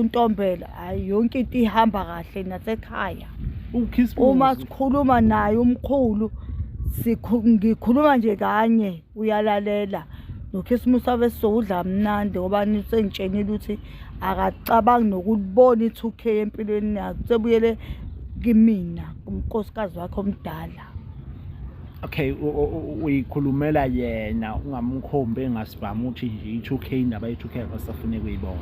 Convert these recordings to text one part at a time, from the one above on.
untombela hayi yonke into ihamba kahle nasekhaya uma sikhuluma naye umkhulu ngikhuluma nje kanye uyalalela nokhisimusi wabe sizokudla mnandi ngoba nisengitshenile ukuthi akacabangi nokulibona i-two k empilweni yakhe sebuyele kimina kumkosikazi wakhe omdala okay uyikhulumela yena ungamkhombi engasibhamu uthi nje i-2 k indaba ye-2 k akasafune kuyibona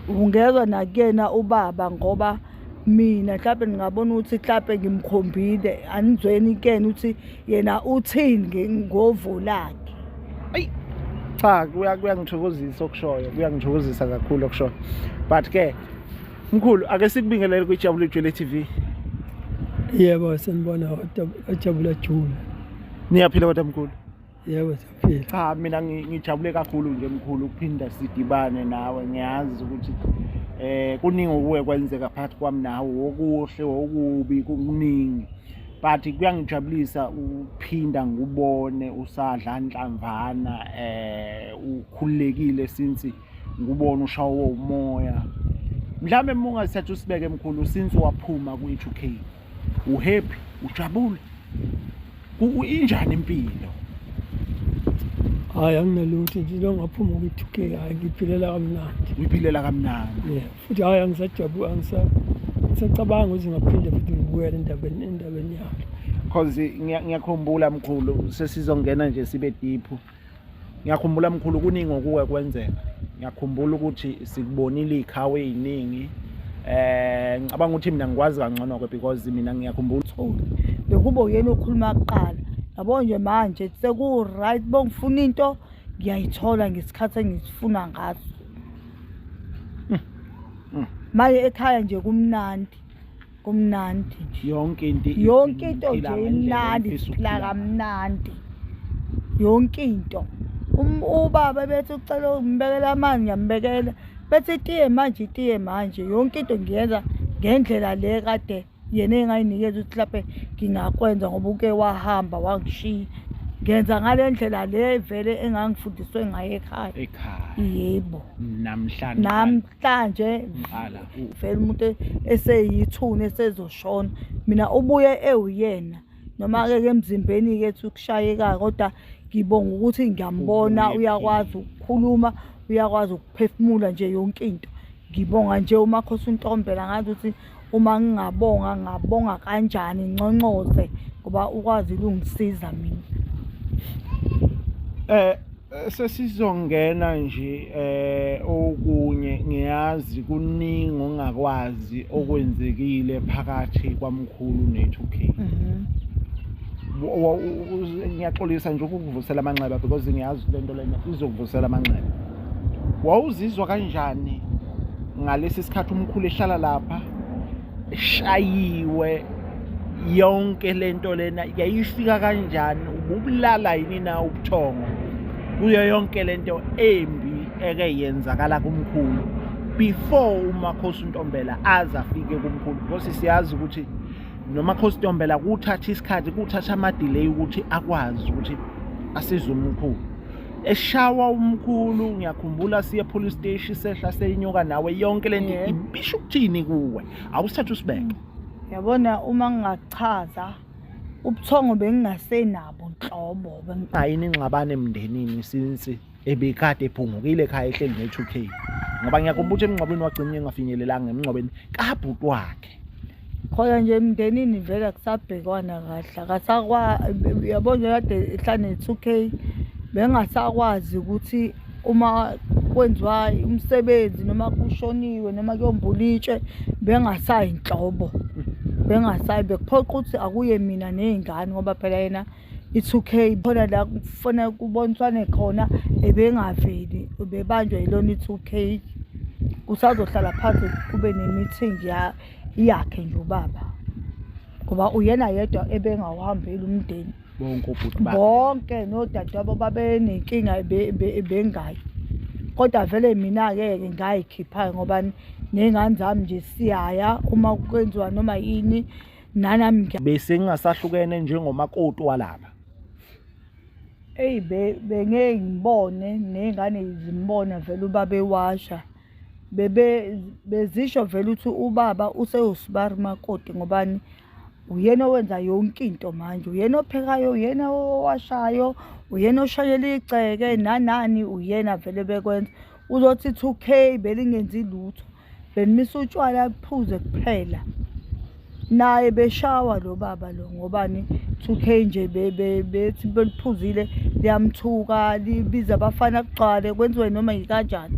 ungezwa nakuyena ubaba ngoba mina mhlawumbe ngingabona ukuthi mhlawumbe ngimkhombile anizweni kuyena ukuthi yena uthini ngovo lakhe ayi cha kuyangithokozisa okushoyo kuyangithokozisa kakhulu okushoyo but ke Mkhulu ake sikubingelele kwiJabule Jule TV. Yebo sanibona wajabula jula. Niyaphila kodwa mkhulu? Yebo siyaphila. Cha mina ngijabule kakhulu nje mkhulu ukuphinda sidibane nawe ngiyazi ukuthi eh kuningi okuwe kwenzeka phakathi kwami nawe okuhle okubi kuningi but kuyangijabulisa ukuphinda ngubone usadla nhlamvana eh ukhululekile since ngubona ushawo umoya mhlawumbe uma ungasithatha usibeke mkhulu since waphuma kwi-two k uhappy ujabule injani impilo hayi anginalutho nje into ngaphuma kwi-two k hayi ngiphilela kamnandi uyiphilela kamnandi ye futhi hayi angisajabuli angisacabanga ukuthi ngaphinde futhi ngibuyele endabeni endabeni yakhe cause ngiyakhumbula mkhulu sesizongena nje sibe diphu ngiyakhumbula mkhulu kuningi okuke kwenzeka ngiyakhumbula ukuthi sikubonile iy'khawu ey'ningi um ngicabanga ukuthi mina ngikwazi kangcono-ke because mina ngiyakhumbula ukuthi bekubo yena okhuluma kuqala yabo nje manje seku-right bongifuna into ngiyayithola ngesikhathi engisifuna ngaso hmm. hmm. manje ekhaya nje kumnandi kumnandi nje yonke into yonke into nje imnandi siphila kamnandi yonke into um, ubaba bethi ucela umbekela amanzi ngiyambekela bethi itiye manje itiye manje yonke into ngiyenza ngendlela le kade yena engayinikeza ukuthi laphe ngingakwenza ngoba uke wahamba wangishiya ngenza ngale ndlela le vele engangifundiswe ngayo ekhaya ekhaya yebo namhlanje namhlanje ngala uvela umuntu eseyithuna esezoshona mina ubuye ewuyena noma-ke ke emzimbeni-ke ethi ukushayeka kodwa ngibonga ukuthi ngiyambona Ubuye uyakwazi ukukhuluma uyakwazi ukuphefumula nje yonke into ngibonga nje umakhosi untombela ngazi ukuthi uma ngingabonga ngabonga kanjani nconcoze ngoba ukwazi ukungisiza mina eh sesizongena nje eh okunye ngiyazi kuningi ongakwazi okwenzekile phakathi kwamkhulu ne2K mhm. ngiyaxolisa nje ukukuvusela amanxeba because ngiyazi lento lena izokuvusela amanxeba wawuzizwa kanjani ngalesi sikhathi umkhulu ehlala lapha eshayiwe yonke lento lena yayifika kanjani ububulala yini na ubuthongo kuyo yonke lento embi eke yenzakala kumkhulu before umakhosi untombela aze afike kumkhulu because siyazi ukuthi nomakhosi ntombela kuthatha isikhathi kuthatha ama-delay ukuthi akwazi ukuthi asize umkhulu eshawa umkhulu ngiyakhumbula siye police station sehla seyinyuka nawe yonke lento yeah. ibisho ukuthini kuwe awusithatha usibeke yabona uma ngingachaza ubuthongo bengingasenabo nhlobo ayini ingxabane emndenini since ebikade ephungukile ekhaya ehleli ne-2k ngoba ngiyakhumbula ukuthi emngcwabeni wagcina engafinyelelanga emngcwabeni kabhuti wakhe khona nje emndenini vele akusabhekwana kahle akasakwa yabo nje kade ehlane ne-two k bengasakwazi ukuthi uma kwenziwa umsebenzi noma kushoniwe noma kuyombulitshe bengasayi nhlobo bengasayi bekuphoqa ukuthi akuye mina ney'ngane ngoba phela yena i-2k khona la kufanele kuboniswane khona ebengaveli ubebanjwa yilona i-two k usazohlala phansi kube ne-meeting yakhe nje ubaba ngoba uyena yedwa ebengawuhambeli umndeni bonke obhuti bakhe bonke nodadewabo babenenkinga bengayi kodwa vele mina-ke ke ngayikhiphayo ngoba ney'ngane zami nje siyaya uma kwenziwa noma yini nanami bese ngingasahlukene njengomakoti walapha eyi bengeke ngibone ney'ngane zimbona vele ubaba ewasha bebe bezisho vele ukuthi ubaba usewusibari makoti ngobani uyena owenza yonke into manje uyena ophekayo uyena owashayo uyena oshayela igceke nanani uyena vele bekwenza uzothi two k belingenzi lutho benimisa utshwala kuphuze kuphela naye beshawa lo baba lo ngobani 2k nje bethi beliphuzile liyamthuka libiza abafana kugcwale kwenziwe noma yikanjani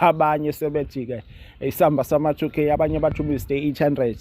abanye sebethi-ke isamba sama-two k abanye bathi umiste eight hundred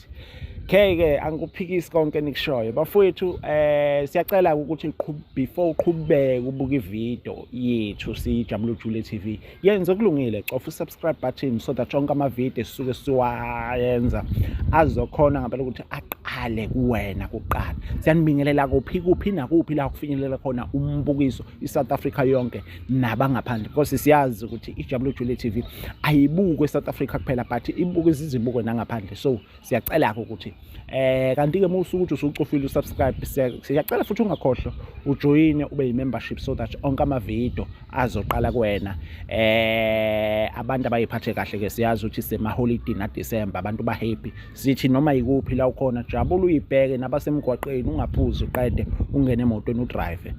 ke-ke angikuphikisi konke nikushoyo bafowethu um eh, siyacela ukuthi before uqhubeke ubuke ividiyo yethu siyijabula ujule t v yenze okulungile cofa usubscribe button so that onke amavidiyo esisuke siwayenza azokhona ngempela ukuthi aqale kuwena kuqala siyanibingelela kuphi kuphi nakuphi la kufinyelela khona umbukiso i-south africa yonke nabangaphandle because siyazi ukuthi ijabulo jule TV ayibukwe eSouth Africa kuphela but ibuke izizibuko nangaphandle so siyacela ke ukuthi eh kanti ke musu ukuthi usucofile usubscribe siyacela futhi ungakhohlwa ujoin ube yimembership so that onke ama video azoqala kuwena eh abantu abayiphathe kahle ke siyazi ukuthi sema holiday na December abantu ba happy Sithi noma yikuphi la ukhona jabula uyibheke nabasemgwaqeni ungaphuzi uqede ungene emotweni udrive.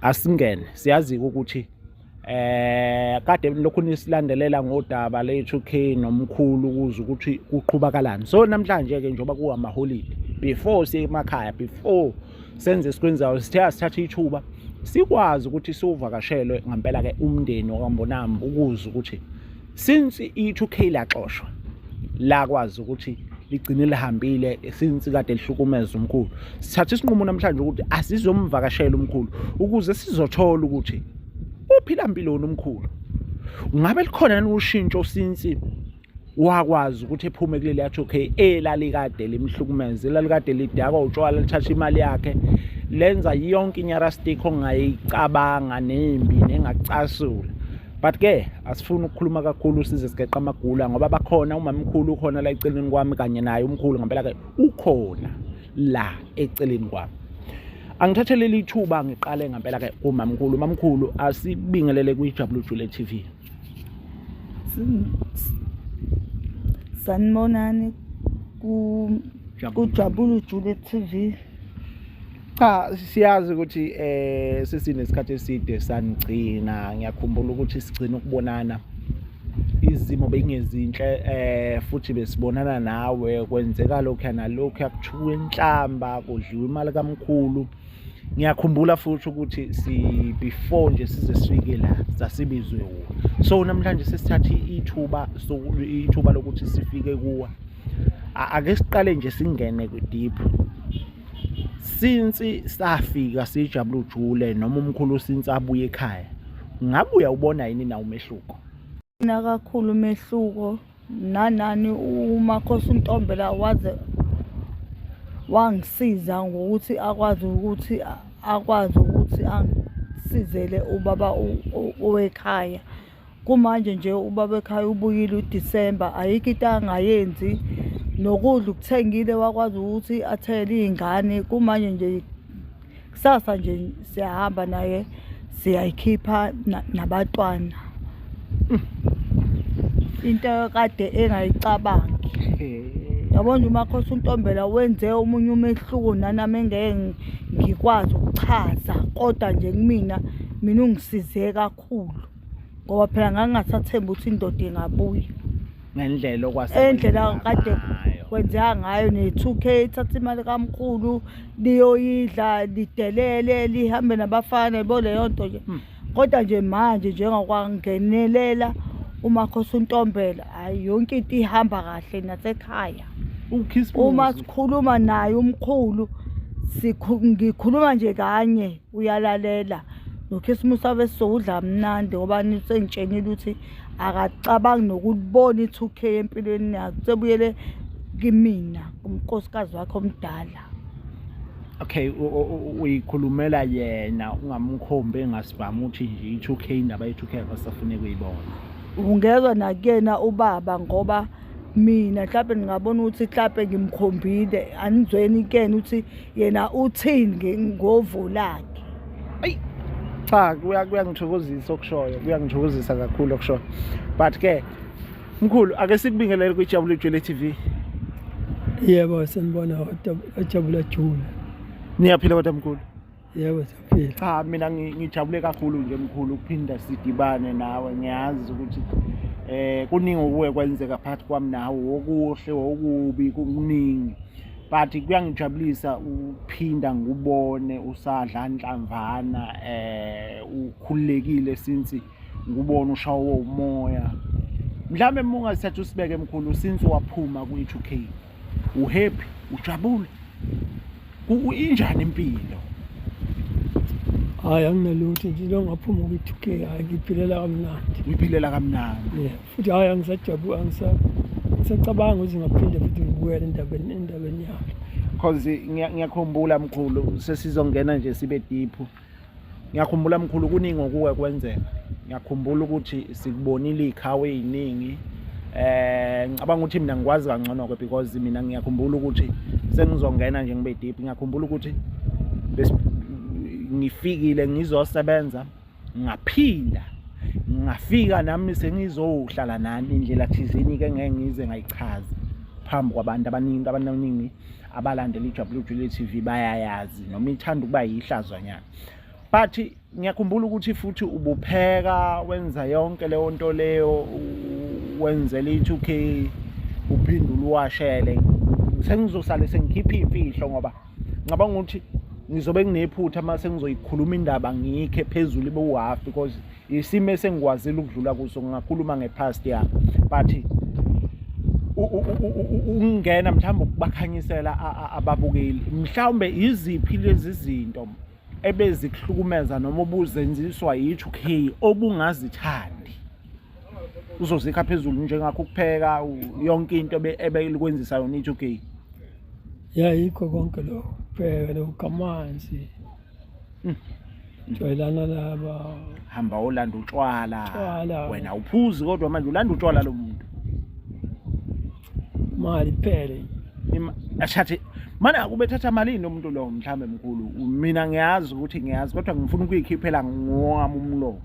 Asingene siyazi ukuthi eh kade lokhu nisilandelela ngodaba lethu K nomkhulu ukuze ukuthi kuqhubakalani so namhlanje ke njoba kuwa maholidi before siye emakhaya before senze sikwenzayo sithe asithatha ithuba sikwazi ukuthi siwuvakashelwe ngempela ke umndeni wakambonami ukuze ukuthi since i-2k laxoshwa lakwazi ukuthi ligcine lihambile since kade lihlukumeza umkhulu sithatha isinqumo namhlanje ukuthi asizomvakashela umkhulu ukuze sizothola ukuthi uphila mpiloni umkhulu ngabe likhona yini ushintsho since wakwazi ukuthi ephume kuleli yathi okay elalikade limhlukumeza elalikade lidakwa utshwala lithatha imali yakhe lenza yonke inyarastik ongayicabanga nembi nengacasula but ke asifuni ukukhuluma kakhulu size sigeqa amagula ngoba bakhona umamkhulu ukhona la eceleni kwami kanye naye umkhulu ngempela ke ukhona la eceleni kwami angithathe leli thuba ngiqale ngempela ke umamkhulu umamkhulu asibingelele kwi-wjule t v sanibonani kujabula ujule t v cha siyazi ukuthi eh sesinesikhathi eside sanigcina ngiyakhumbula ukuthi sigcina ukubonana izimo bengezinhle eh futhi besibonana nawe kwenzeka lokho nalokho yakuthuka inhlamba kudliwa imali kamkhulu ngiyakhumbula futhi ukuthi si before nje size sifike la sasibizwe wona so namhlanje sesithatha ithuba ithuba lokuthi sifike kuwa ake siqale nje singene deep since safika sijabula ujule noma umkhulu since abuye ekhaya ngabe uyawubona yini na umehluko na kakhulu umehluko nanani umakhosi untombela waze wangisiza ngokuthi akwazi ukuthi akwazi ukuthi angisizele ubaba owekhaya kumanje nje ubaba ekhaya ubuyile uDisemba ayikho into angayenzi nokudla ukuthengile wakwazi ukuthi athele iy'ngane kumanje nje kusasa nje siyahamba naye siyayikhipha nabatwana into kade engayicabangi yabona nje umakhosi untombela wenze omunye umehluko nanami engeke ngikwazi ukuchaza kodwa nje kumina mina ungisize kakhulu kakhulu ngoba phela ngangingasathembi ukuthi indoda ingabuya ngendlela okwase endlela kade kwenzeka ngayo ne-two k ithatha imali kamkhulu liyoyidla lidelele lihambe nabafana yabo leyo nto nje hmm. kodwa nje manje njengakwangenelela umakhosi untombela hhayi yonke into ihamba kahle nasekhaya uma sikhuluma naye umkhulu ngikhuluma nje kanye uyalalela nokhisimusi abesizokudla mnandi ngoba nisengitshengile ukuthi akacabangi nokubona i-two k empilweni yakhe sebuyele kimina umkosikazi wakhe omdala okay uyikhulumela yena ungamkhombi engasibhamu ukuthi nje i-two k indaba ye-two k akasafuneki uyibona ungezwa nakuyena ubaba ngoba mina mhlawumbe ngingabona ukuthi mhlawumbe ngimkhombile anizweni kuyena ukuthi yena uthini ngovo lakhe ayi cha kuyangithokozisa okushoyo kuyangithokozisa kakhulu okushoyo but ke mkhulu ake sikubingelele kwijabulo ijwele tv yebo senibona ojabula jula niyaphila kodwa mkhulu yebo siyaphila cha mina ngijabule kakhulu nje mkhulu ukuphinda sidibane nawe ngiyazi ukuthi eh kuningi okuwe kwenzeka phakathi kwami nawe okuhle okubi kuningi but kuyangijabulisa ukuphinda ngubone usadla nhlamvana eh ukhululekile since ngubona ushawo umoya mhlawumbe mungasithatha usibeke mkhulu since waphuma kwi-2k uhappy ujabule injani impilo hayi anginalutho nje lo ngaphuma kwi-two k hayi ngiphilela kamnandi ngiphilela kamnandi yeah. futhi hayi angisajabu angisacabanga ukuthi ngaphinde futhi ngibuyele endabeni endabeni yami cause ngiyakhumbula mkhulu sesizongena nje sibe diphu ngiyakhumbula mkhulu kuningi okuke kwenzeka ngiyakhumbula ukuthi sikubonile iy'khawu ey'ningi eh ngicabanga ukuthi mina ngikwazi kangcono-ke because mina ngiyakhumbula ukuthi sengizongena nje ngibe deep ngiyakhumbula ukuthi ngifikile ngizosebenza ngaphinda ngafika nami sengizohlala nani indlela thizeni-ke ngeke ngize ngayichazi phambi kwabantu abaningi abantu abaningi abalandeli iJabulile Jule TV bayayazi noma ithanda ukuba yihlazwanyana but ngiyakhumbula ukuthi futhi ubupheka wenza yonke leyo nto leyo wenzela i-2k uphinde uluwashele sengizosale sengikhipha iy'mfihlo ngoba ngicabanga ukuthi ngizobe nginephutha uma sengizoyikhuluma indaba ngiyikhe phezulu ibe uhafi because isimo esengikwazile ukudlula kuso ngingakhuluma ngepast yami but ukungena mhlawumbe ukubakhanyisela ababukeli mhlawumbe iziphi lezi zinto ebezikuhlukumeza noma obuzenziswa yithi okay obungazithandi uzozikha phezulu njengakho ukupheka yonke into ebeyikwenzisa yona ithi okay yayikho konke lokho phela lokugamanzi Hmm. Jwayelana laba. Hamba olanda utshwala. Wena uphuzi kodwa manje ulanda utshwala lo muntu. Mali phele. Ashathi manje akubethatha malini lo muntu lo mhlambe mkhulu. Mina ngiyazi ukuthi ngiyazi kodwa ngifuna ukuyikhiphela ngowami umlomo.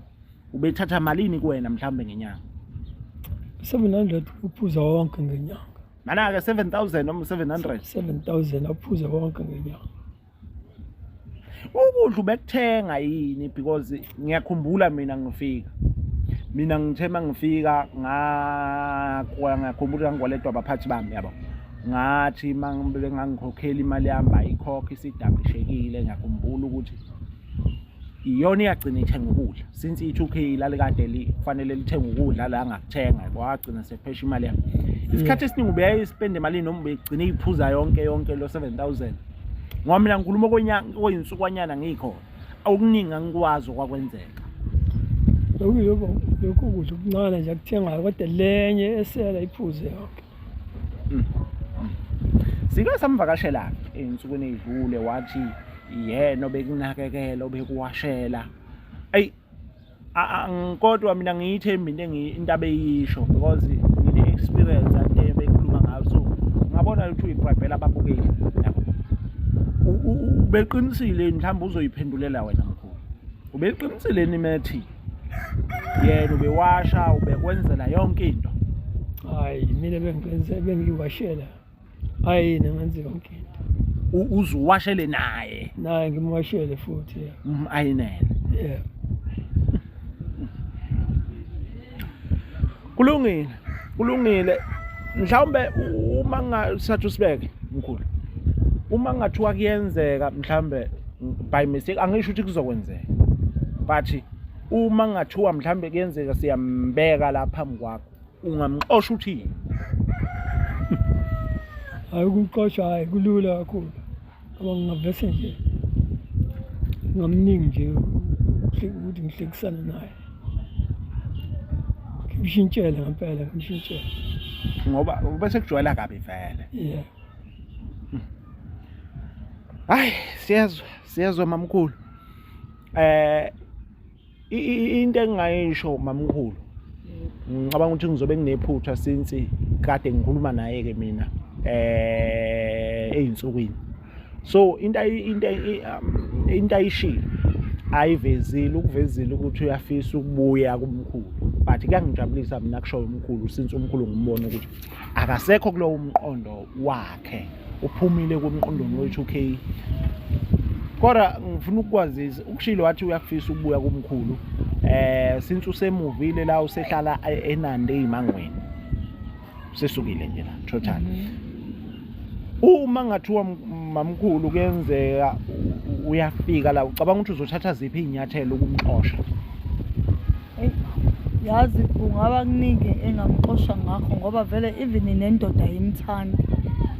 Ubethatha malini kuwena mhlambe ngenyanga? 700 uphuza wonke ngenyanga. Mana-ke 7000 noma 700? 7000 aphuze wonke ngenyanga. ukudla ubekuthenga yini because ngiyakhumbula mina ngifika mina ngithe mangifika ngakwa ngakhumbula ngikwaletwa abaphathi bami yabo ngathi mangibele ngangikhokhela imali yami ayikhokhe isidablishekile ngiyakhumbula ukuthi iyona iyagcina ithenga ukudla since i-two k ilale kade lifanele lithenga ukudla la angakuthenga kwagcina sephesha imali yakhe isikhathi esiningi ubeyayispenda emalini noma ubegcine iyiphuza yonke yonke lo seven thousand ngoba mina ngikhuluma koyinsukwanyana ngikho okuningi angikwazi okwakwenzeka lokhu lokhu kudla okuncane nje akuthengayo kodwa lenye esela iphuze yonke Sike samvakashela ensukwini edlule wathi yena obekunakekela obekuwashela ayi kodwa mina ngiyithembi into intaba eyisho because ngine experience ade bekhuluma ngayo so ngabona ukuthi uyiprepela ababukeli ubeqinisile mhlawumbe uzoyiphendulela wena mkhulu ubeqinisile ni methi yena ubewasha ubekwenzela yonke into hayi mina bengiqinise bengiwashela hayi yena ngenze yonke into U- uze uwashele naye naye ngimwashele futhi yeah. Mhm, ayinene yeah. kulungile kulungile mhlawumbe uma ngingasathi usibeke mkhulu uma kungathiwa kuyenzeka mhlawumbe by mistake angisho ukuthi kuzokwenzeka but uma kungathiwa mhlawumbe kuyenzeka siyambeka la phambi kwakho ungamxosha uthini hayi ukuxosha hayi kulula kakhulu Ngoba ngingavese nje ngamningi nje ukuthi ngihlekisane naye ngimshintshele ngempela ngimshintshele ngoba bese kujwayela kabi vele yeah hayi siyezwa siyezwa mamkhulu eh into engingayisho mamkhulu ngicabanga ukuthi ngizobe nginephutha since kade ngikhuluma naye ke mina eh ezinsukwini so into into um, into ayishilo ayivezile ukuvezile ukuthi uyafisa ukubuya kumkhulu but kuyangijabulisa mina kushoyo umkhulu since umkhulu ngimbona ukuthi akasekho kulowo mqondo wakhe uphumile kumqondweni we-2k kodwa ngifuna ukukwazisa ukushilo wathi uyakufisa ukubuya kumkhulu eh since usemuvile la usehlala enande imangweni sesukile nje la total mm -hmm. uma ngathiwa mamkhulu kuyenzeka uyafika la ucabanga ukuthi uzothatha ziphi iy'nyathelo ukumxosha yazi kungaba kuningi engamxosha ngakho ngoba vele even nendoda yimthandi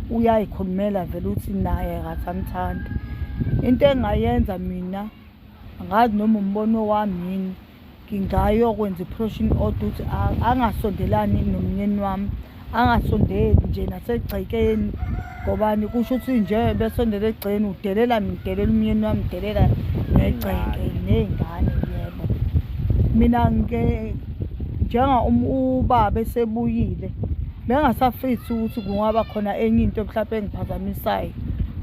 uyayikhulumela vele ukuthi naye akasamthandi into engayenza mina angazi noma umbono wami yini ngingayokwenza i-protion order ukuthi angasondelani nomnyeni wami angasondeli nje nasegcekeni ngobani kusho ukuthi nje besondela egcekeni udelela ngidelela umyeni wami udelela negceke ney'ngane yebo mina ngike njenga um, ubaba esebuyile bengasafisi ukuthi kungaba khona enye into mhlawumpe engiphazamisayo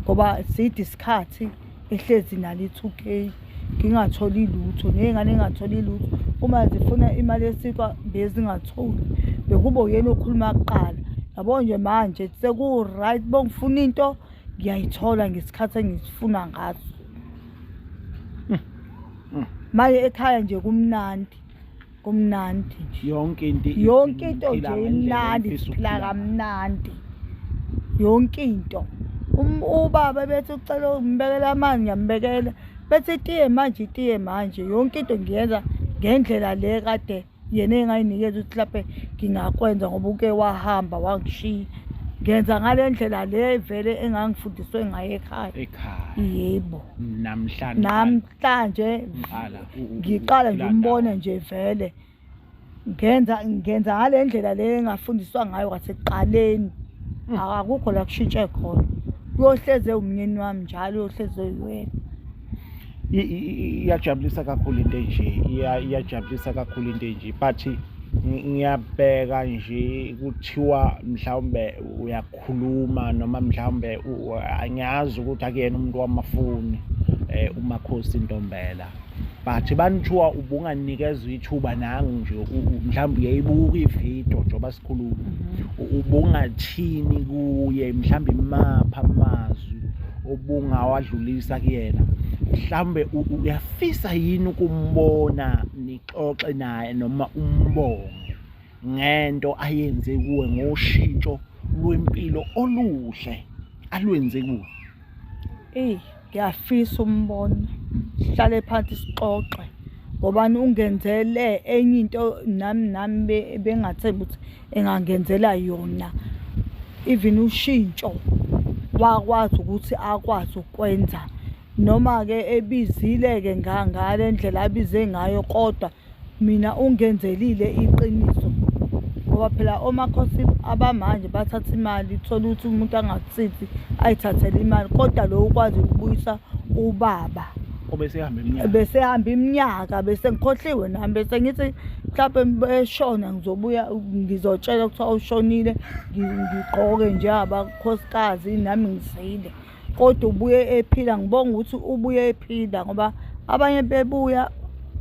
ngoba side isikhathi ehlezi nalo i-two k ngingatholi lutho ney'ngane engatholi lutho uma zifuna imali yesikwa bezingatholi bekubo yena okhuluma kuqala yabo nje manje seku-right bongifuna into ngiyayithola ngesikhathi engisifuna ngaso hmm. hmm. maye ekhaya nje kumnandi kumnandi nje yonke into yonke into nje imnandi siphila kamnandi yonke into um, ubaba bethi ucela umbekela amanzi ngiyambekela bethi itiye manje itiye manje yonke into ngiyenza ngendlela le kade yena engayinikeza ukuthi laphe ngingakwenza ngoba uke wahamba wangishiya ngenza ngale ndlela le vele engangifundiswe ngayo ekhaya ekhaya yebo namhlanje namhlanje Ngiqala u- u- ngiqala nje ukulanda. umbone nje vele ngenza ngenza ngale ndlela le engafundiswa ngayo kwasekuqaleni Mm. akukho la kushintshe khona uyohleze umnyeni wami njalo uyohleze uyiwena I- i- i- iyajabulisa kakhulu into enje Iya- iyajabulisa kakhulu into enje but ngi- ngiyabheka nje kuthiwa mhlawumbe uya khuluma noma mhlawumbe angiyazi ukuthi akuyena umuntu wamafoni eh, umakhosi ntombela but banithiwa ubunganikezwa ithuba nangu nje mhlawumbe uyayibuka ividiyo njengoba sikhuluma mhm. ubungathini kuye mhlawumbe imapha amazwi obungawadlulisa kuyena mhlawumbe uyafisa yini ukumbona nixoxe naye noma umbonge ngento ayenze kuwe ngoshintsho lwempilo oluhle alwenze kuwe eyi ngiyafisa umbona sihlale phansi sixoxe ngobani ungenzele enye into nami nami bengathembi ukuthi engangenzela yona even ushintsho wakwazi ukuthi akwazi ukwenza noma-ke ebizile-ke ngale ndlela abize ngayo kodwa mina ungenzelile iqiniso ngoba phela omakhosi abamanje bathatha imali thola ukuthi umuntu angakusizi ayithathele imali kodwa lo ukwazi ukubuyisa ubaba obesehamba iminyaka besehamba iminyaka bese ngikhohliwe nami bese ngithi mhlawumbe beshona ngizobuya ngizotshela kuthiwa ushonile ngi- ngigqoke njengabakhosikazini nami ngizile kodwa ubuye ephila ngibonga ukuthi ubuye ephila ngoba abanye bebuya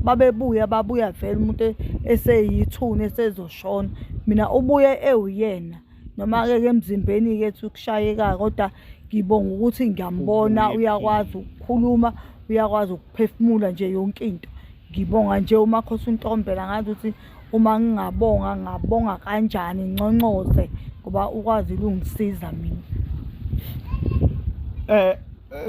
babebuya babuya vele umuntu eseyithuna esezoshona mina ubuye ewuyena noma-ke ke emzimbeni-ke ethi ukushayeka kodwa ngibonga ukuthi ngiyambona uyakwazi ukukhuluma uyakwazi ukuphefumula nje yonke into ngibonga nje umakhosi untombela ngazi ukuthi uma ngingabonga ngabonga kanjani nconcoze ngoba ukwazi ukungisiza mina eh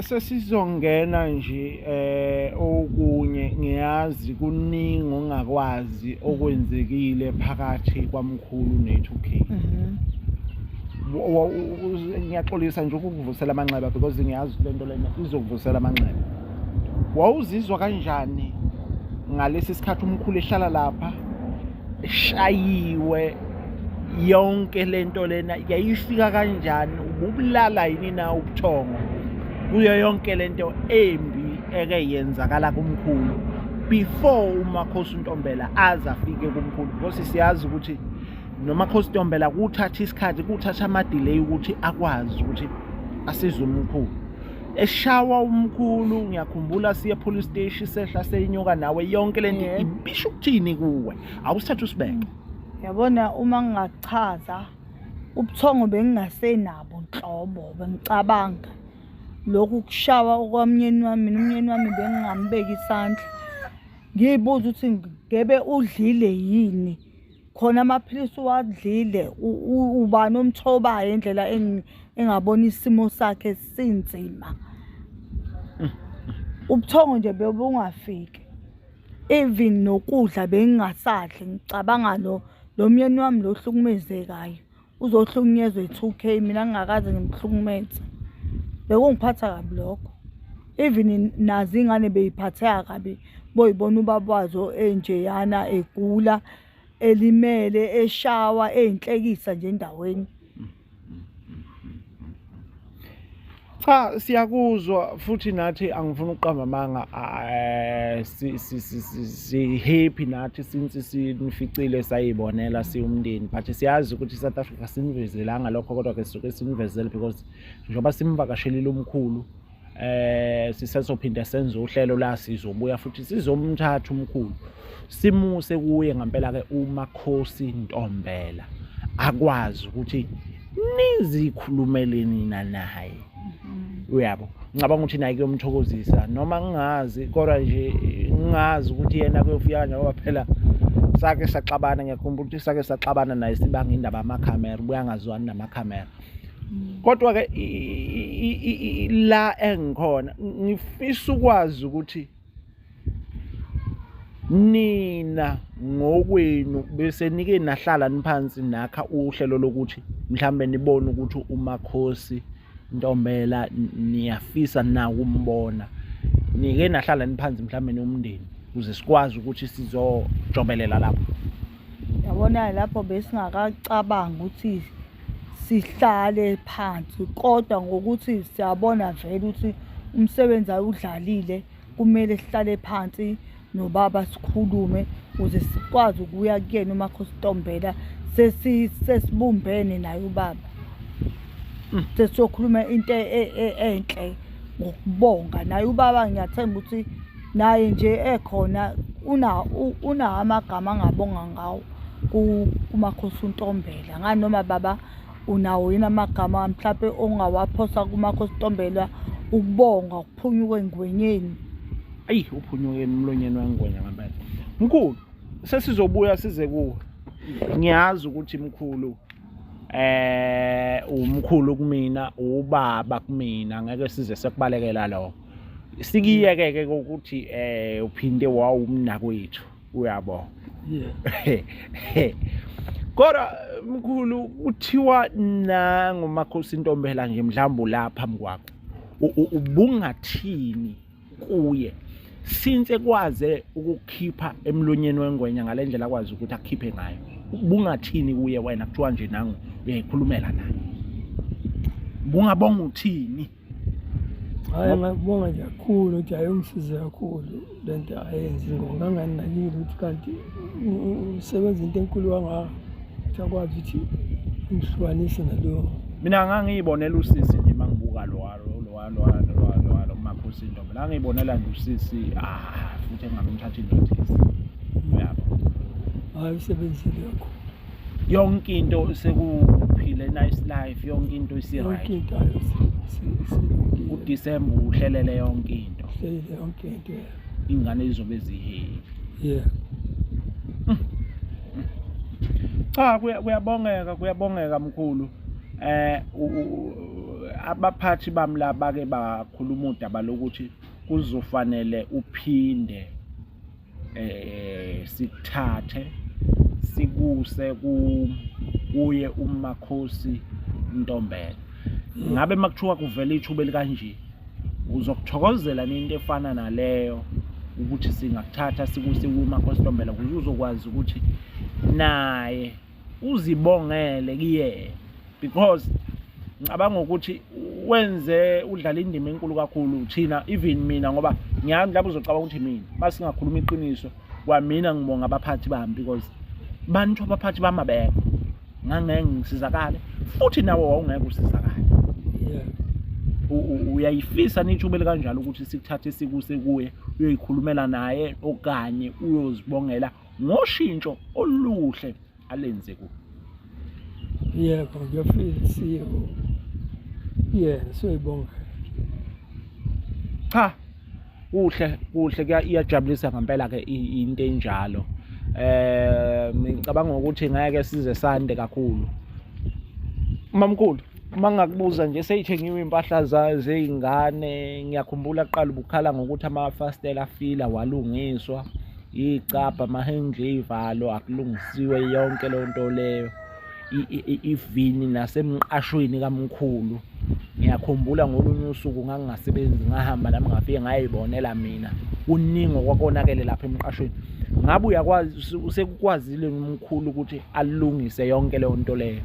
sesizongena nje eh okunye ngiyazi kuningi ongakwazi okwenzekile phakathi kwamkhulu ne2K mhm. ngiyaxolisa nje ukukuvusela amanxeba because ngiyazi lento lena izokuvusela amanxeba wawuzizwa kanjani ngalesi sikhathi umkhulu ehlala lapha eshayiwe yonke lento lena yayifika kanjani ububulala yini na ubuthongo kuyo yonke lento embi eke yenzakala kumkhulu before umakhosi untombela aze afike kumkhulu because siyazi ukuthi nomakhosi untombela kuthatha isikhathi kuthatha ama-delay ukuthi akwazi ukuthi asize umkhulu eshawa umkhulu ngiyakhumbula siye police station sehla seyinyuka nawe yonke lento Yeah. ibisho ukuthini kuwe awusithatha usibeke yabona uma ngingachaza ubuthongo bengingasenabo nhlobo bengicabanga lokhu kushawa okwamnyeni wami mina umnyeni wami bengingambeki isandla ngiyibuza ukuthi ngebe udlile yini khona amaphilisi uwadlile ubani omthobayo indlela engabona isimo sakhe sinzima ubuthongo nje bebungafiki even nokudla bengingasadli ngicabanga lo lo myeni wami lo hlukumezekayo uzohlukunyezwa i-two k mina ngingakaze ngimhlukumeze bekungiphatha kabi lokho even nazi ingane beyiphatheka kabi boyibona ubaba wazo enjeyana egula elimele eshawa eyinhlekisa nje endaweni cha siyakuzwa futhi nathi angifuni ukuqamba amanga eh, si-happy nathi since sinificile sayibonela siwumndeni but siyazi ukuthi i-south africa sinivezelanga lokho kodwa-ke sisuke sinivezele because njengoba simvakashelile umkhulu eh sisezophinde senze uhlelo la sizobuya futhi sizomthatha umkhulu simuse kuye ngempela ke umakhosi Ntombela akwazi ukuthi nizikhulumele nina naye mm-hmm. uyabo ngicabanga ukuthi naye kuyomthokozisa noma ngingazi kodwa nje ngingazi ukuthi yena kuyofika nje ngoba phela sake saxabana ngiyakhumbula ukuthi sake saxabana naye sibanga indaba amakhamera ubuya ngazwani namakhamera mm. kodwa ke la engikhona ngifisa ukwazi ukuthi nina ngokwenu bese nike nahlala niphansi nakha uhlelo lokuthi mhlambe nibone ukuthi umakhosi ntombela niyafisa na ukumbona nike nahlala niphansi mhlambe nomndeni ukuze sikwazi ukuthi sizojobelela lapho yabona lapho besingakacabangi ukuthi sihlale phansi kodwa ngokuthi siyabona vele ukuthi umsebenzi awudlalile kumele sihlale phansi nobaba sikhulume ukuze sikwazi ukuya kuyena umakhositombela sesibumbene naye ubaba hmm. sesiyokhuluma into e, e, enhle ngokubonga naye ubaba ngiyathemba ukuthi naye nje ekhona una una amagama angabonga ngawo kumakhosi untombela ngani noma baba unawo yini amagama mhlawumpe ongawaphosa kumakhosi untombela ukubonga ukuphunyuka engwenyeni ayi uphunyuke emlonyeni wengwenya ngempela mkhulu sesizobuya size kuwe ngiyazi ukuthi mkhulu eh umkhulu kumina ubaba kumina ngeke size sekubalekela lokho sikiyeke ke ukuthi eh uphinde wawumnakwethu uyabo kodwa mkhulu kuthiwa nangu makhosi intombela nje mhlawumbe lapha phambi kwakho ubungathini kuye since kwaze ukukhipha emlonyeni wengwenya ngalendlela akwazi ukuthi akhiphe ngayo ubungathini kuye wena kuthiwa nje nangu uyayikhulumela naye bungabonga uthini hhayi ngakubonga nje kakhulu ukuthi hhayi ungisize kakhulu le nto ayenzi ngoba nganginakile ukuthi kanti usebenza into enkulu kangaka ukuthi akwazi ukuthi ngihlukanise nalowo mina ngangiyibonela usisi nje uma ngibuka lowalo umakhosi intombi la ngiyibonela nje usisi ah futhi engamthathi indoda uyabo hhayi usebenzile kakhulu yonke into sekuphile nice life yonke into isiright uDecember uhlelele yonke into uhlelele yonke into ingane izobe ziheli yeah cha kuyabongeka kuyabongeka mkhulu eh abaphathi bami laba ke bakhuluma udaba lokuthi kuzofanele uphinde eh sikuthathe sikuse ku kuye umakhosi Ntombela ngabe makuthiwa kuvela ithuba elikanje uzokuthokozela into efana naleyo ukuthi singakuthatha sikuse kumakhosi Ntombela ukuze uzokwazi ukuthi naye uzibongele kuyena because ngicabanga ukuthi wenze udlala indima enkulu kakhulu thina even mina ngoba ngiyami lapho uzocabanga ukuthi mina masingakhuluma iqiniso kwamina ngibonga abaphathi bami because bantu abaphathi bami abekho ngangeke ngisizakale futhi nawe wawungeke usizakale uyayifisa nithubele kanjalo ukuthi sikuthathe sikuse kuye uyoyikhulumela naye okanye uyozibongela ngoshintsho oluhle alenze ku yebo ngiyafisa siyebo yena soyibonga cha kuhle kuhle iyajabulisa ngempela ke into enjalo eh ngicabanga ukuthi ngeke size sande kakhulu mamkhulu uma ngakubuza nje seyithengiwe impahla zey'ngane ngiyakhumbula kuqala ubukhala ngokuthi amafastela afila walungiswa iyicabha amahenji eyivalo akulungisiwe yonke leyo nto leyo ivini nasemqashweni kamkhulu ngiyakhumbula ngolunye usuku ngangingasebenzi ngahamba nami ngafike ngayibonela mina kuningi okwakonakele lapha emqashweni ngabe uyakwazi usekukwazile umkhulu ukuthi alungise yonke leyo nto leyo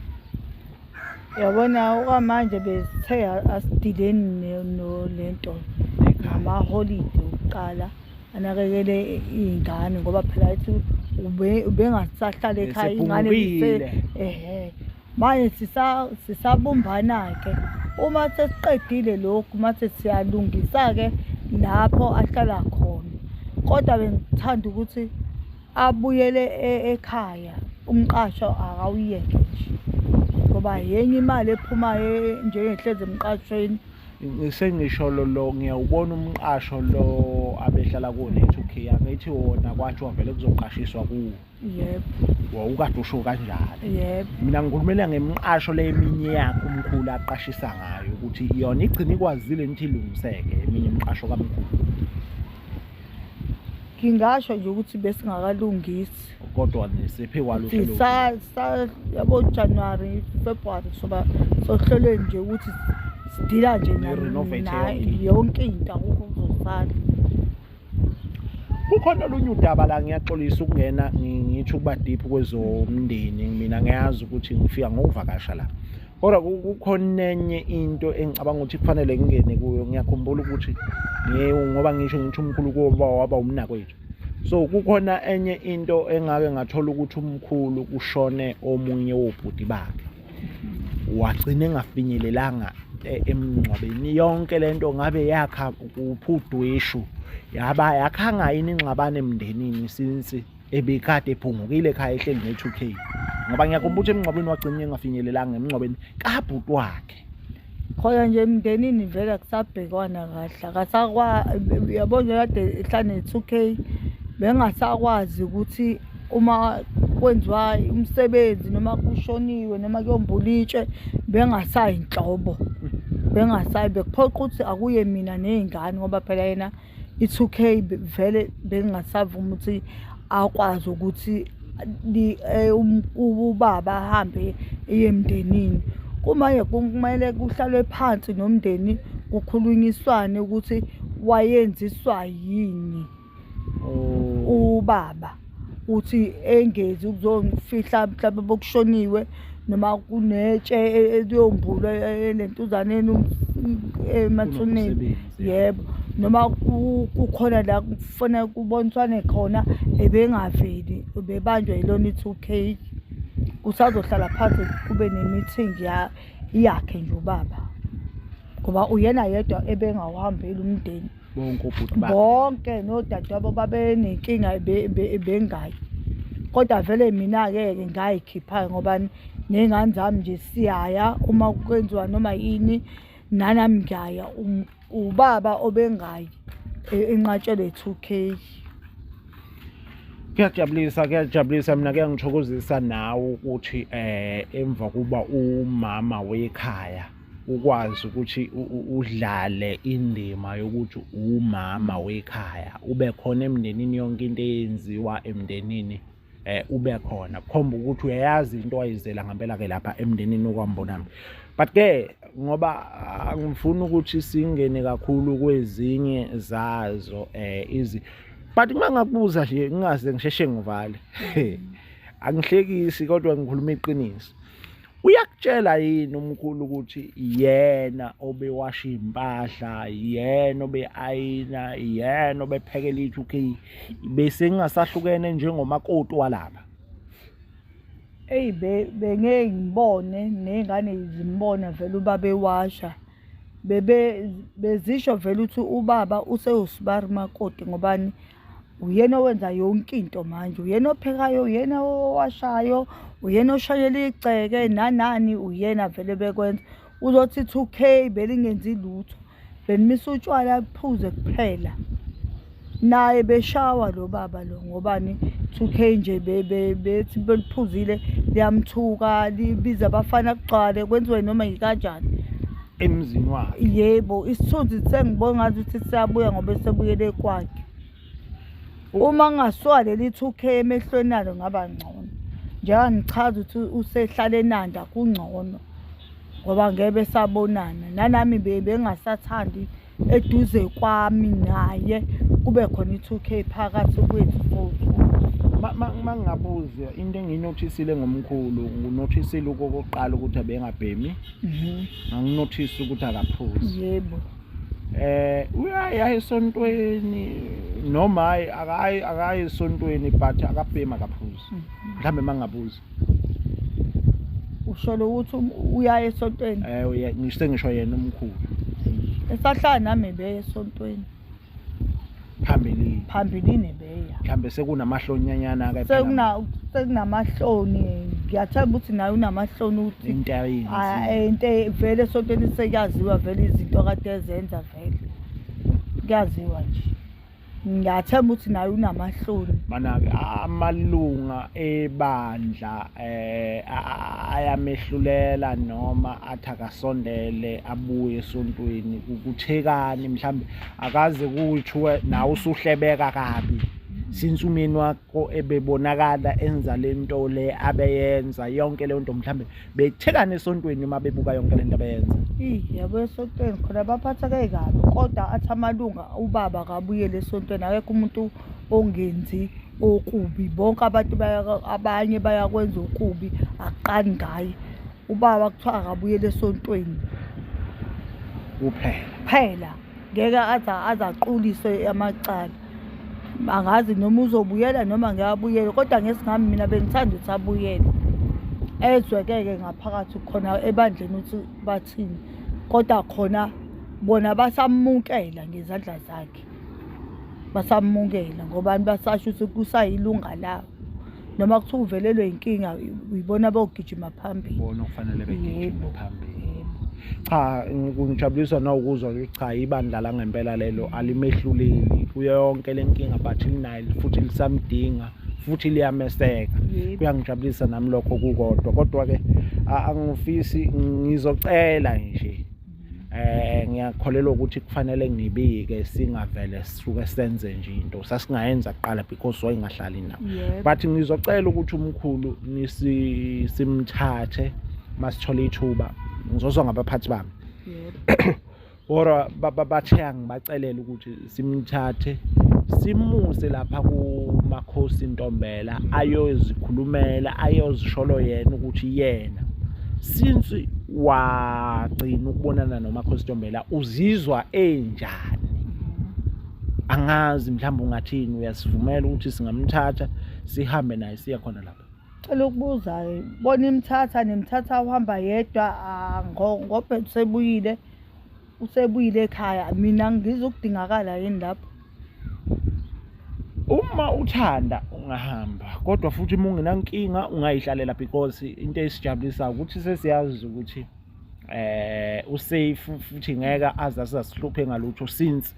yabona okwamanje besithe asidileni nolento ngamaholide okuqala anakekele iy'ngane ngoba phela ethi ubengasahlala ekhaya ingane ehe manje sisabumbana-ke uma sesiqedile lokhu mase siyalungisa-ke lapho ahlala khona kodwa bengithanda ukuthi abuyele e, ekhaya umqasho akawuyeke nje ngoba yenye imali ephumayo njengehlezi emqashweni sengisho lo lo ngiyawubona umqasho lo abehlala kuwo ne-2k angithi wona kwathiwa vele kuzoqashiswa kuwo yebo wawukade usho kanjalo yebo mina ngikhulumela ngemqasho le eminye yakhe umkhulu aqashisa ngayo ukuthi yona igcina ikwazile nithi ilungiseke eminye imqasho kamkhulu ngingasho nje ukuthi besingakalungisi kodwa nisiphi kwalo uhlelo sa sa yabo January February soba sohlelwe nje ukuthi sidila nje nayo yonke into akukho kuzosala kukhona olunye udaba la ngiyaxolisa ukungena ngitho ukuba deep kwezomndeni mina ngiyazi ukuthi ngifika ngokuvakasha la kodwa kukhona enye into engicabanga ukuthi kufanele ngingene kuyo ngiyakhumbula ukuthi ngoba ngisho ngisho umkhulu koba waba umnakwethu so kukhona enye into engake ngathola ukuthi umkhulu kushone omunye wobhuti bakhe wagcina engafinyelelanga e, emngcwabeni yonke lento ngabe yakha kuphudwishu yaba yakhanga yini ingxabano emndenini since ebikade ephungukile ekhaya ehleli ne-2k ngoba ngiyakhumbula ukuthi emngcwabeni wagcina engafinyelelanga emngcwabeni kabhuti wakhe khona nje emndenini vele akusabhekwana kahle akasakwa yabo nje kade ehlane ne-two k bengasakwazi ukuthi uma kwenziwa umsebenzi noma kushoniwe noma kuyombulitshwe bengasayi nhlobo bengasayi bekuphoqa ukuthi akuye mina ney'ngane ngoba phela yena i-two k vele bengingasavumi ukuthi akwazi ukuthi eh, um, ubaba ahambe eye emndenini kumanje kumele kuhlalwe phansi nomndeni kukhulunyiswane ukuthi wayenziswa yini oh. ubaba uthi engezi ukuzongifihla mhlawumbe bokushoniwe noma kunetshe eliyombulwa e, e, e, lentuzaneni um, emathuneni yebo noma kukhona la kufanele kuboniswane khona ebengaveli bebanjwa yilona i-two k usazohlala phansi kube ne-meeting yakhe nje ubaba ngoba uyena yedwa ebengawuhambeli umndeni bonke obhuti bakhe bonke nodadewabo babenenkinga bengayi kodwa vele mina-ke ke ngayikhipha-ke ngoba ney'ngane zami nje siyaya uma kwenziwa noma yini nanami ngiyaya um, ubaba obengayi e, enqatshelwe two k kuyajabulisa kuyajabulisa mina kuyangithokozisa nawe ukuthi um emva kuba umama wekhaya ukwazi ukuthi udlale indima yokuthi umama wekhaya ube khona emndenini yonke into eyenziwa emndenini eh ube khona kukhomba ukuthi uyayazi into ayizela ngempela ke lapha emndenini okwambonami but ke ngoba ah, ngifuna ukuthi singene kakhulu kwezinye zazo eh izi but uma ngakubuza nje ngingaze ngisheshe ngivale angihlekisi kodwa ngikhuluma iqiniso uyakutshela yini umkhulu ukuthi yena obewasha impahla yena obeayina yena obephekela ithu k bese ngingasahlukene njengomakoti walapha eyi bengeke ngibone ney'ngane zimbona vele ubaba ewasha bebe bezisho vele ukuthi ubaba usewusibari makoti ngobani uyena owenza yonke into manje uyena ophekayo uyena owashayo uyena oshayela igceke nanani uyena vele bekwenza uzothi two k belingenzi lutho benimisa utshwala kuphuze kuphela naye beshawa lo baba lo ngobani two k nje bethi beliphuzile liyamthuka libiza abafana kugcwale kwenziwe noma yikanjani emzini wakhe yebo isithunzi sengibona ngathi ukuthi siyabuya ngoba esebuyele kwakhe uma ngasuka leli 2k emehlweni alo ngaba ngcono njengoba ngichaza ukuthi usehlale enanda kungcono ngoba ngeke besabonana nanami bengasathandi be eduze kwami naye kube khona i-two k phakathi kwethu futhi uma ngingabuza into engiyinothisile ngomkhulu nginothisile okokuqala ukuthi abengabhemi mhm. nganginothisa ukuthi akaphuzi yebo eh uyaye aye esontweni noma hayi akayi akayi esontweni but akabhemi akaphuzi mhm. mhlawumbe mangabuza usholo ukuthi um- uyaye esontweni Eh uye- ngisho sengisho yena umkhulu. esahlala nami ebeya esontweni Phambili. phambilini ebeya Mhlambe sekunamahlonyanyana ke Sekuna- sekunamahloni ngiyathemba ukuthi naye unamahloni ukuthi into ah, ayinzi. eh, into e- vele esontweni sekuyaziwa vele izinto kade ezenza vele kuyaziwa nje ngiyathemba ukuthi naye unamahloni mana-ke amalunga ebandla eh ayamehlulela noma athi akasondele abuye esontweni kuthekani mhlawumbe akaze kuthiwe nawe usuhlebeka kabi since umyeni wakho ebebonakala enza le nto le abeyenza yonke leyo nto mhlawumbe bethekane esontweni uma bebuka yonke lento abayenza yabo esontweni khona baphatheke kabi kodwa athi amalunga ubaba kabuyele esontweni akekho umuntu ongenzi okubi bonke abantu abanye bayakwenza okubi akuqani ngaye ubaba kuthiwa akabuyele esontweni kuphela phela ngeke aze aze aquliswe amacala angazi noma uzobuyela noma ngeke abuyele kodwa ngesingami mina bengithanda ukuthi abuyele ezwekeke ngaphakathi khona ebandleni ukuthi bathini kodwa khona bona basamukela ngezandla zakhe basamukela ngobani basasho ukuthi kusayilunga labo noma kuthiwa uvelelwe inkinga uyibona bogijima phambili bona okufanele begijime phambili cha ngijabulisa nawukuzwa ukuthi cha ibandla la ngempela lelo alimehluleli kuyo yonke lenkinga but linayo futhi lisamdinga futhi liyameseka kuyangijabulisa nami lokho kukodwa kodwa ke angifisi ngizocela nje eh ngiyakholelwa ukuthi kufanele ngibike singavele sisuke senze nje into sasingayenza kuqala because wayengahlali nawo but ngizocela ukuthi umkhulu nisi simthathe masithola ithuba ngizozwa ngabaphathi bami or babathenga ngibacelele ukuthi simthathe simuse lapha kumakhosi Ntombela ayozikhulumela ayozisholo yena ukuthi yena since wagcina ukubonana nomakhosi Ntombela uzizwa enjani angazi mhlawumbe ungathini uyasivumela ukuthi singamthatha sihambe naye siya khona lapha cela ukubuza bona imthatha nemthatha uhamba yedwa ah, ngobhe sebuyile usebuyile ekhaya mina ngizokudingakala yini lapho uma uthanda ungahamba kodwa futhi uma ungenankinga ungayihlalela because into esijabulisa ukuthi sesiyazi ukuthi eh usafe futhi ngeke aze asasihluphe ngalutho since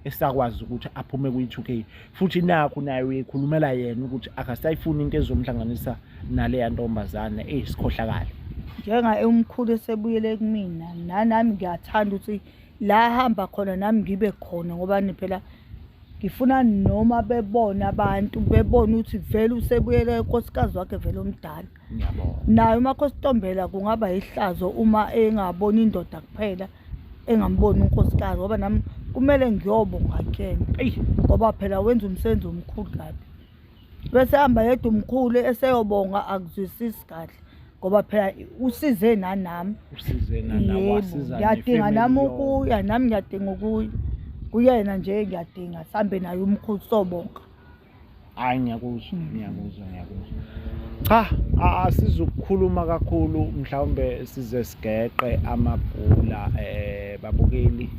esakwazi ukuthi aphume kwi-2k futhi nakho naye uyekhulumela yena ukuthi akasayifuni into ezomhlanganisa naleya ntombazane eyi sikhohlakale njenga umkhulu esebuyele kumina nanami ngiyathanda ukuthi la hamba khona nami ngibe khona ngoba phela ngifuna noma bebona abantu bebona ukuthi vele usebuyele unkosikazi wakhe vele omdala naye umakhostombela kungaba yihlazo uma engaboni indoda kuphela engamboni unkosikazi ngoba nami kumele ngiyobo ngakuyena ngoba phela wenza umsebenzi omkhulu kabi bese hamba yedwa umkhulu eseyobonga akuzwisisi kahle ngoba phela usize nanami ngiyadinga nami ukuya nami ngiyadinga ukuya kuyena nje ngiyadinga sihambe naye umkhulu sobonga hayi ngiyakuzwa ngiyakuzwa ngiyakuzwa cha asizukukhuluma kakhulu mhlawumbe size sigeqe amagula eh babukeli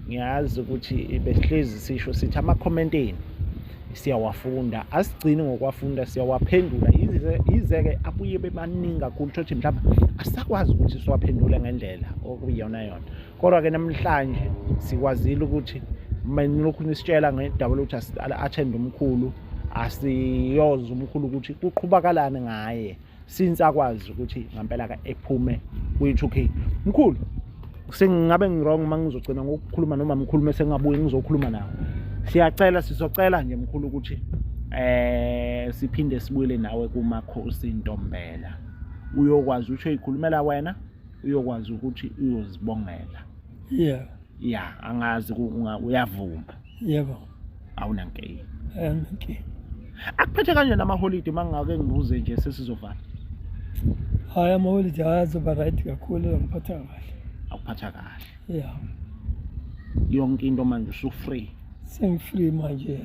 ngiyazi ukuthi besihlezi sisho sithi amakhommentini siyawafunda asigcini ngokwafunda siyawaphendula yize-ke abuye bebaningi kakhulu thothi mhlawumbe asakwazi ukuthi siwaphendule ngendlela okuyiyona yona Kodwa-ke namhlanje sikwazile ukuthi manilokhu nisitshela ngedaba lokuthi athende umkhulu asiyoza umkhulu ukuthi kuqhubakalani ngaye since akwazi ukuthi ngampela ka ephume kwi-2k mkhulu sengingabe ngirong uma ngizogcina ngokukhuluma noma mkhulu mese ngingabuye ngizokhuluma nawo siyacela sizocela nje mkhulu ukuthi eh siphinde sibuyele nawe kumakhosi intombela uyokwazi ukuthi uyikhulumela wena uyokwazi ukuthi uyozibongela yeah ya angazi uyavuma yebo awunankinga awunankinga akuphethe kanjani amaholide uma ngingake ngibuze nje sesizovala hhayi amaholide hhayi azoba right kakhulu angiphatha kahle akuphatha kahle ya yonke into manje usufree sengifree manje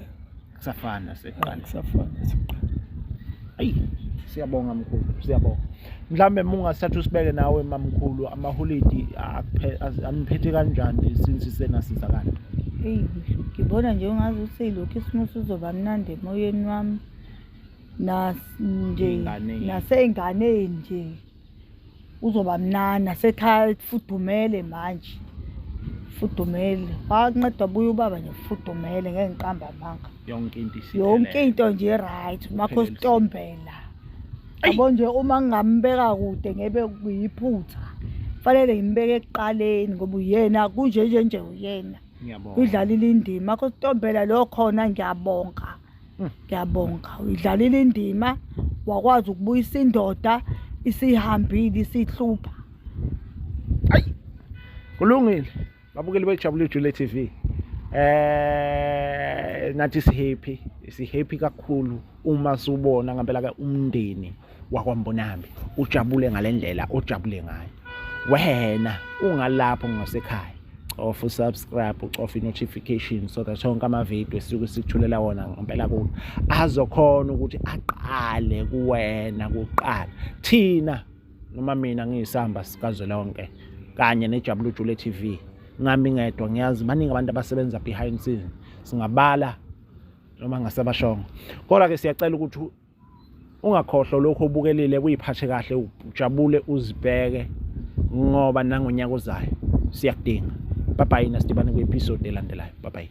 kusafana seqala kusafana seqala ayi siyabonga mkhulu siyabonga mhlambe mungasithatha usibeke nawe mamkhulu amaholidi aniphethe kanjani since senasizakala eyi ngibona nje ungazi ukuthi lokhu isimo sizoba mnandi emoyeni wami nje nasey'nganeni nje uzoba mnana sethafudumele manje fudumele wanceda buye ubaba nje fudumele ngeke ngiqamba amanga yonke into yonke into nje right makho sitombela yabo nje uma ngingambeka kude ngebe kuyiphutha fanele ngimbeke ekuqaleni ngoba uyena kunje nje nje uyena udlalile indima makho sitombela lo khona ngiyabonga ngiyabonga uyidlalile indima wakwazi ukubuyisa indoda isihambile isihlupha ayi kulungile babukeli bejabule jule TV eh nathi sihappy sihappy kakhulu uma subona ngempela ke umndeni wakwambonambi ujabule ngalendlela ojabule ngayo wena ungalapho ngasekhaya cofa usubscribe ucofa i-notification so that onke amavidiyo esisuke sikuthulela wona ngempela kulo azokhona ukuthi aqale kuwena kuqala thina noma mina ngiyisamba sikazwelonke kanye nejabulujule t v ngami ngedwa ngiyazi baningi abantu abasebenza behind scene singabala noma ngasebashongo kodwa-ke siyacela ukuthi ungakhohlwa lokho obukelile kuyiphathe kahle ujabule uzibheke ngoba nangonyaka ozayo siyakudinga bye bye nasidibane kwi-episode elandelayo bye bye